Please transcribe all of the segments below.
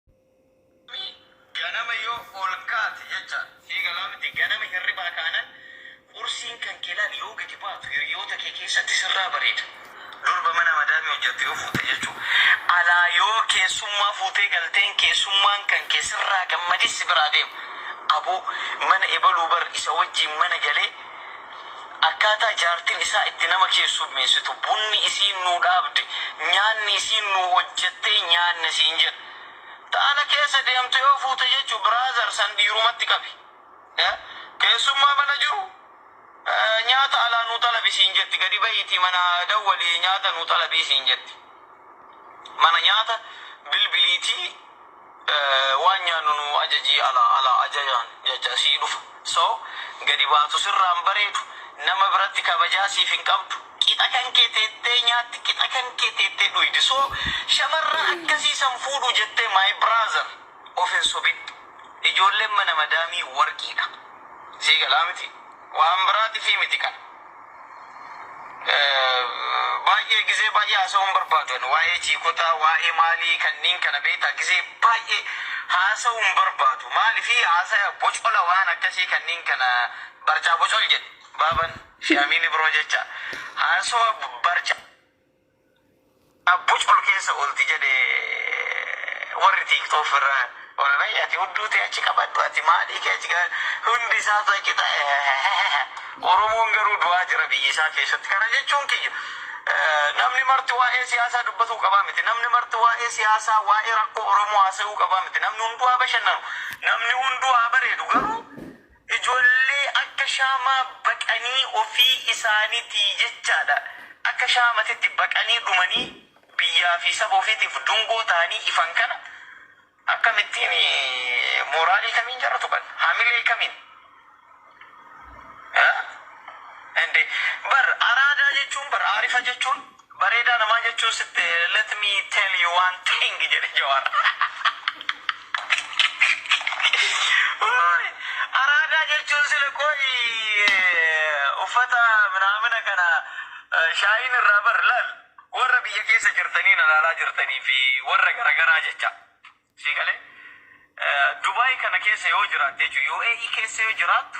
Namni ganama yoo ol kaate jecha. Sii galaa miti ganama hirribaa kaanan qursiin kan kee laali yoo gadi baatu hiryoota kee keessatti sirraa bareeda durba mana madaamii hojjattu yoo fuute jechuu alaa yoo keessummaa fuutee galteen keessummaan kan kee sirraa gammadee si biraa deema aboo mana ebaluu bar isa wajjiin mana galee Akkaataa jaartin isaa itti nama keessummeessitu, bunni isiin nuu dhaabde, nyaanni isiin nuu hojjettee nyaanne siin jedha. Ta ala keessa deemtu yoo fuute jechu brother san dhiirumatti qabi. Keessummaa mana jiru nyaata alaa nuu xalabi siin jetti. Gadi bahiitii mana dawwalii nyaata nuu xalabii siin jetti. Mana nyaata bilbiliitii Waan nyaannu nuu ajajii alaa alaa ajajaan jachaa sii dhufa so gadi baatu sirraa hin bareedu nama biratti kabajaa siif hin qabdu qixa kan kee teettee nyaatti qixa kan kee teettee dhuydi so shamarran akkasii san fuudhuu jettee my brother of hin sobin ijoolleen mana madaamii warqiidha sii galaa mitii. Waan biraatifii miti kana. Baay'ee gizee baay'ee haasa'uu hin barbaadu ani waa'ee chiikotaa waa'ee maalii kanniin kana beektaa gizee baay'ee haasa'uu hin barbaadu maalifi haasaya bocola waan akkasii kanniin kana barcaa bocol jedhe baaban fi amiin ibroo jecha haasawa barcaa Abbuch ol keessa olti jedhe warri tiktok irra wly ati hudduu tee achi qabadhu ati maalii kee achi hundi isaatu achi ta eheheheh oromoon garuu du'aa jira biyya isaa keessatti kana jechuun kiyya namni marti waa'ee siyaasaa dubbatuu qabaa miti namni marti waa'ee siyaasaa waa'ee rakkoo oromoo haasayuu qabaa miti namni hunduu haa bashannanu namni hunduu haa bareedu garuu Ijoollee akka shaamaa baqanii ofii isaanitii jechaadha akka shaamatitti baqanii dhumanii biyyaa fi saba ofiitiif dungoo tahanii ifan kana akkamittiin mooraalii kamiin jara tuqan hamilee kamiin haa? Ende bar araadaa jechuun bar aarifa jechuun Bareedaa namaa jechuun sitte let me tell you one thing jedhe Jawaar. Uuy, Araadaa jechuun sila qoyi uffata minaamina kana eh, shaayiin irraa bar laal warra biyya keessa jirtanii na laalaa jirtanii fi warra garagaraa jecha sii galee Eh, Dubaay kana keessa yoo jiraatte jechuun UAE keessa yoo jiraattu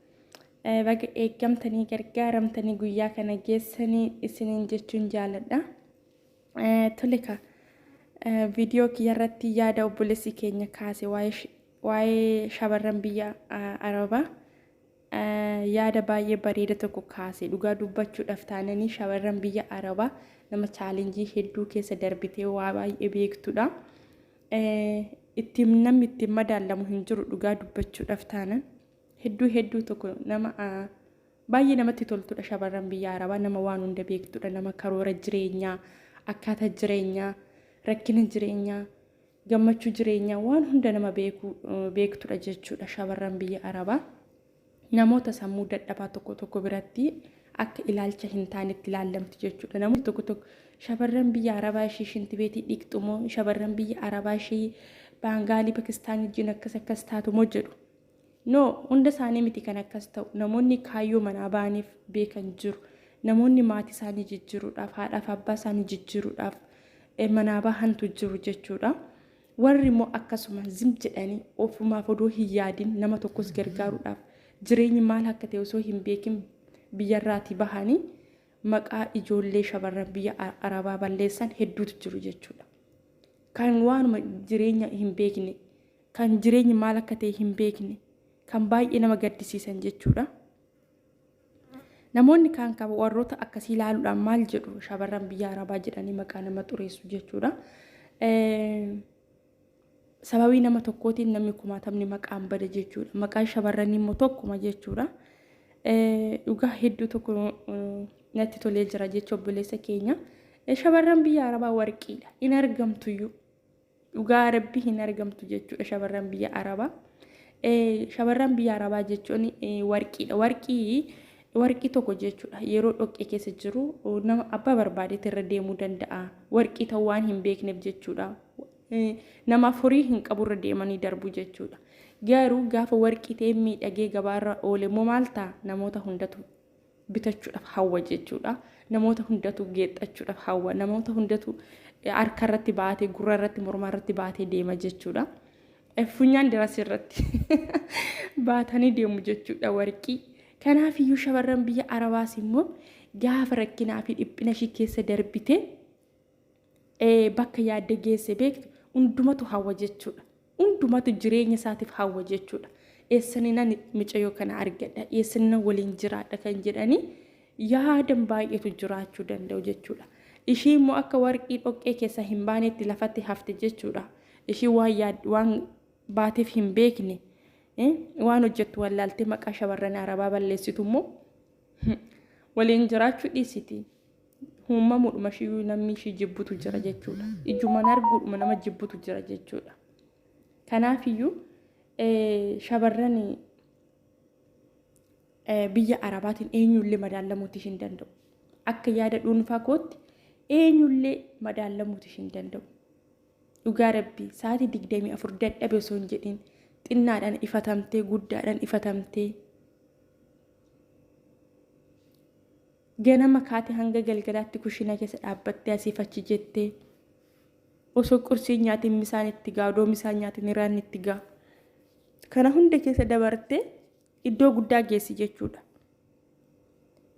Baga eeggamtanii gargaaramtanii guyyaa kana geessanii isiniin jechuun jaaladha. Tole ka viidiyoo kiyya irratti yaada obboleessi keenya kaase waa'ee shamarran biyya Arabaa yaada baay'ee bareeda tokko kaase dhugaa dubbachuudhaaf taananii shamarran biyya Arabaa nama chaalenjii hedduu keessa darbitee waa baay'ee beektudha. Ittiin namni ittiin madaallamu hin jiru dhugaa dubbachuudhaaf taanan. Hedduu hedduu tokko nama baay'ee namatti toltudha shamarran biyya arabaa nama waan hunda beektudha nama karoora jireenyaa akkaataa jireenyaa rakkina jireenyaa gammachuu jireenyaa waan hunda nama beeku beektudha jechuudha shamarran biyya arabaa namoota sammuu dadhabaa tokko tokko biratti akka ilaalcha hin taanetti ilaallamti jechuudha namoonni tokko tokko shamarran biyya arabaa ishee shintibeetii dhiqxumoo shamarran biyya arabaa ishee baangaalii pakistaanii wajjin akkas akkas taatumoo jedhu No, hunda isaanii miti kan akkas ta'u. Namoonni kaayyoo manaa ba'aniif beekan jiru. Namoonni maatii isaanii jijjiiruudhaaf, haadhaaf abbaa isaanii jijjiiruudhaaf eh, manaa bahantu jiru jechuudha. Warri immoo akkasuma zim jedhanii ofumaaf odoo hin yaadin nama tokkos gargaaruudhaaf jireenyi maal akka ta'e osoo hin beekin biyyarraatii bahanii maqaa ijoollee shamarran biyya A- arabaa balleessan hedduutu jiru jechuudha. Kan waanuma jireenya hin beekne kan jireenyi maal akka ta'e hin beekne kan baay'ee nama gaddisiisan jechuudha. Namoonni kaan qaba warroota akkasii ilaaluudhaan maal jedhu shamarran biyya arabaa jedhanii maqaa nama xureessu jechuudha. Sababii nama tokkootiin namni kumaatamni maqaan bada jechuudha. Maqaan shamarranii immoo tokkuma jechuudha. Dhugaa hedduu tokko natti tolee jira jecha obboleessa keenya. Shamarran biyya arabaa warqiidha. Hin argamtuyyuu. Dhugaa rabbi hin argamtu jechuudha shamarran biyya arabaa. Shamarran biyya arabaa jechuun warqiidha. Warqii warqii tokko jechuudha yeroo dhoqqee keessa jiru nama abbaa barbaadeetti irra deemuu danda'a. Warqii ta'uu waan hin beekneef jechuudha. Nama furii hin qabu irra deemanii darbu jechuudha. Garuu gaafa warqii ta'ee miidhagee gabaarra oole immoo maal ta'a namoota hundatu bitachuudhaaf hawwa jechuudha. Namoota hundatu geexxachuudhaaf hawwa. Namoota hundatu harka irratti baatee, gurra irratti, morma irratti baatee deema jechuudha. Funyaan diras irratti baatanii deemu jechuudha warqii. Kanaaf iyyuu shamarran biyya Arabaas immoo gaafa rakkinaa fi dhiphina ishii keessa darbitee bakka yaadde geesse beektu hundumatu hawwa jechuudha. Hundumatu jireenya isaatiif hawwa jechuudha. Eessaninan micayoo kana argadha, eessaninan waliin jiraadha kan jedhanii yaadan baay'eetu jiraachuu danda'u jechuudha. Ishii immoo akka warqii dhoqqee keessaa hin baanetti lafatti hafte jechuudha. Ishii waan yaad waan baateef hin beekne waan hojjettu wallaaltee maqaa shamarran arabaa balleessitu immoo waliin jiraachuu dhiisiti. Uummamuudhuma ishiiyyuu namni ishii jibbutu jira jechuudha. Ijumaan arguudhuma nama jibbutu jira jechuudha. Kanaafiyyuu shamarran biyya arabaatiin eenyullee madaallamuuti hin danda'u. Akka yaada dhuunfaa kootti eenyullee madaallamuuti hin danda'u. Dhugaa rabbii sa'aatii digdamii afur dadhabe osoo hin jedhin xinnaadhaan ifatamtee guddaadhaan ifatamtee Ganama kaate hanga galgalaatti kushina keessa dhaabbattee asiif achi jette. Osoo qursiin nyaatiin misaan itti gaa, odoo misaan nyaatiin iraan itti gaa. Kana hunda keessa dabartee iddoo guddaa geessi jechuudha.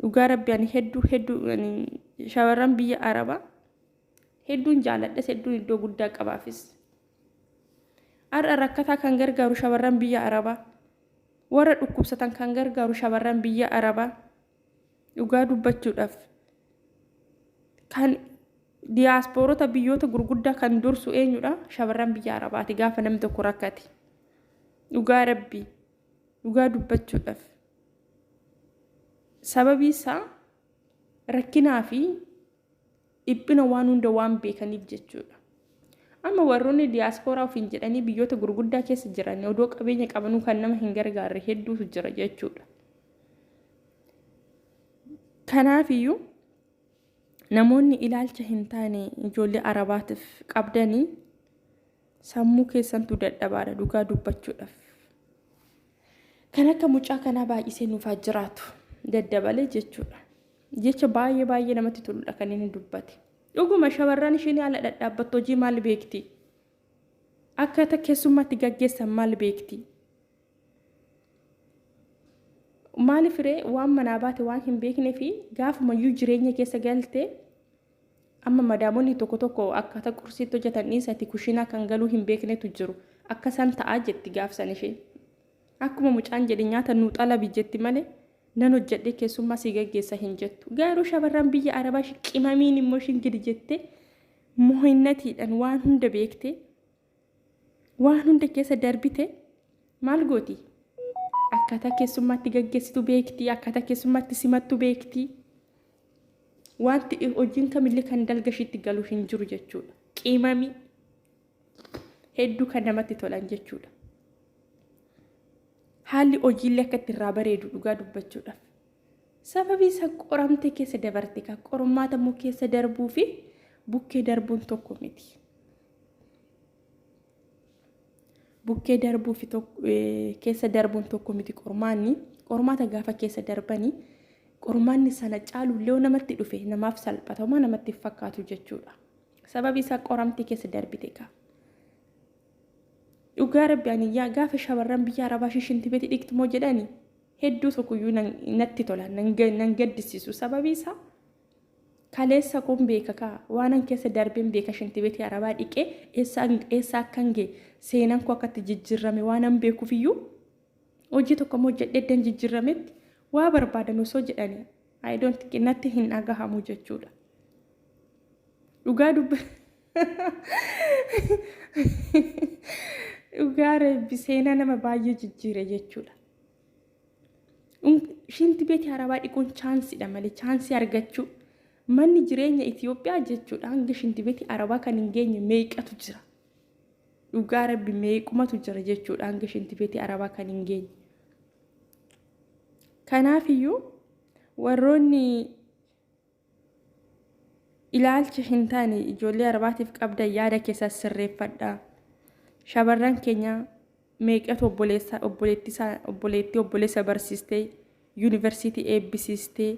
Dhugaa rabbi ani hedduu hedduu shamarran biyya Arabaa hedduun jaaladhes hedduun iddoo guddaa qabaafis. Har'a rakkataa kan gargaaru shamarran biyya Arabaa. Warra dhukkubsatan kan gargaaru shamarran biyya Arabaa. Dhugaa dubbachuudhaaf kan diyaaspoorota biyyoota gurguddaa kan dursu eenyudha? Shamarran biyya Arabaati gaafa namni tokko rakkate. Dhugaa rabbii dhugaa dubbachuudhaaf sababii isaa rakkinaa fi Dhiphina waan hunda waan beekaniif jechuudha. Amma warroonni diyaaspooraa ofiin jedhanii biyyoota gurguddaa keessa jiran odoo qabeenya qabanuu kan nama hin gargaarre hedduutu jira jechuudha. Kanaafiyyuu namoonni ilaalcha hin taane ijoollee arabaatiif qabdanii sammuu keessantu dadhabaadha dhugaa dubbachuudhaaf. Kan akka mucaa kanaa baay'isee nuufaa jiraatu daddabalee jechuudha. Jecha baay'ee baay'ee namatti toludha kan inni dubbate. Dhuguma shamarran isheen ala dhadhaabbattu hojii maal beekti? Akkaataa keessummaatti gaggeessan maal beekti? Maaliif ree waan manaa baate waan hin beeknee fi gaafumayyuu jireenya keessa galte amma madaamonni tokko tokko akkaataa qursiitti hojjetan dhiisati kushiinaa kan galuu hin beeknetu jiru. Akka isaan ta'aa jetti gaafsan ishee. Akkuma mucaan jedhe nyaata nuu xalabi jetti malee nan hojjedhee keessummaa sii gaggeessa hin jettu. Garuu shamarran biyya arabaa ishi qimamiin immoo ishin gidi jettee mohinnatiidhan waan hunda beektee waan hunda keessa darbite maal gooti? Akkaataa keessummaatti gaggeessitu beekti, akkaataa keessummaatti simattu beekti. Wanti hojiin kamillee kan dalga ishiitti galu hin jiru jechuudha. Qimamii. hedduu kan namatti tolan jechuudha. Haalli hojiillee akka itti irraa bareedu dhugaa dubbachuudhaaf. Sababii isa qoramtee keessa dabarte kan qormaata immoo keessa darbuu fi bukkee darbuun tokko miti. Bukkee darbuu fi keessa darbuun tokko miti qormaanni. Qormaata gaafa keessa darbanii qormaanni sana caalu illee namatti dhufe namaaf salphatamaa namatti fakkaatu jechuudha. Sababi isaa qoramtii keessa darbite kaa. Dhugaa rabbi ani yaa gaafa shamarran biyya arabaa shishinti beti dhigtu moo jedhani hedduu tokkoyyuu natti tola nan gaddisiisu sababi isaa kaleessa kun beeka kaa waanan keessa darbeen beeka shinti betii arabaa dhiqee eessa akkan gee seenan koo akkatti jijjirrame waanan beekufiyyuu hojii tokko moo jedheddan jijjirrametti waa barbaadan osoo jedhani I don't think natti hin dhagahamu jechuudha. Dhugaa dubba dhugaa reebbi seenaa nama baay'ee jijjiire jechuudha. Shinti beeti harabaa dhiquun chaansidha malee chaansii argachuu manni jireenya Itoophiyaa jechuudha hanga shinti beeti harabaa kan hin geenye meeqatu jira. Dhugaa rabbi meequmatu jira jechuudha hanga shinti beeti harabaa kan hin geenye. Kanaafiyyuu warroonni ilaalcha hin taane ijoollee arbaatiif qabdan yaada keessa sirreeffadha. Shamarran keenya meeqatu obboleessa obboleettii obboleessa barsiistee yuunivarsiitii eebbisiistee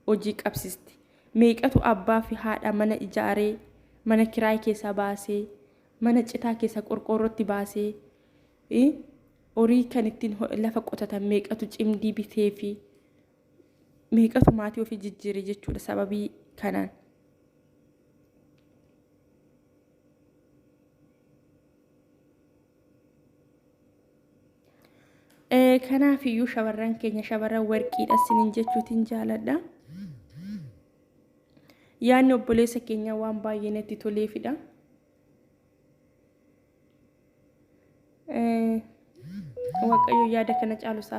hojii qabsiiste. Meeqatu abbaa fi haadha mana ijaaree mana kiraay keessa baasee mana citaa keessa qorqoorrootti baasee Horii kan ittiin lafa qotatan meeqatu cimdii bitee fi meeqatu maatii ofii jijjiire jechuudha sababii kanaan. Kanaaf iyyuu shamarran keenya shamarran warqiidha isiniin jechuutiin jaaladha. Yaanni obboleessa keenyaa waan baay'ee natti toleefidha. Waaqayyo yaada kana caalu isaaf.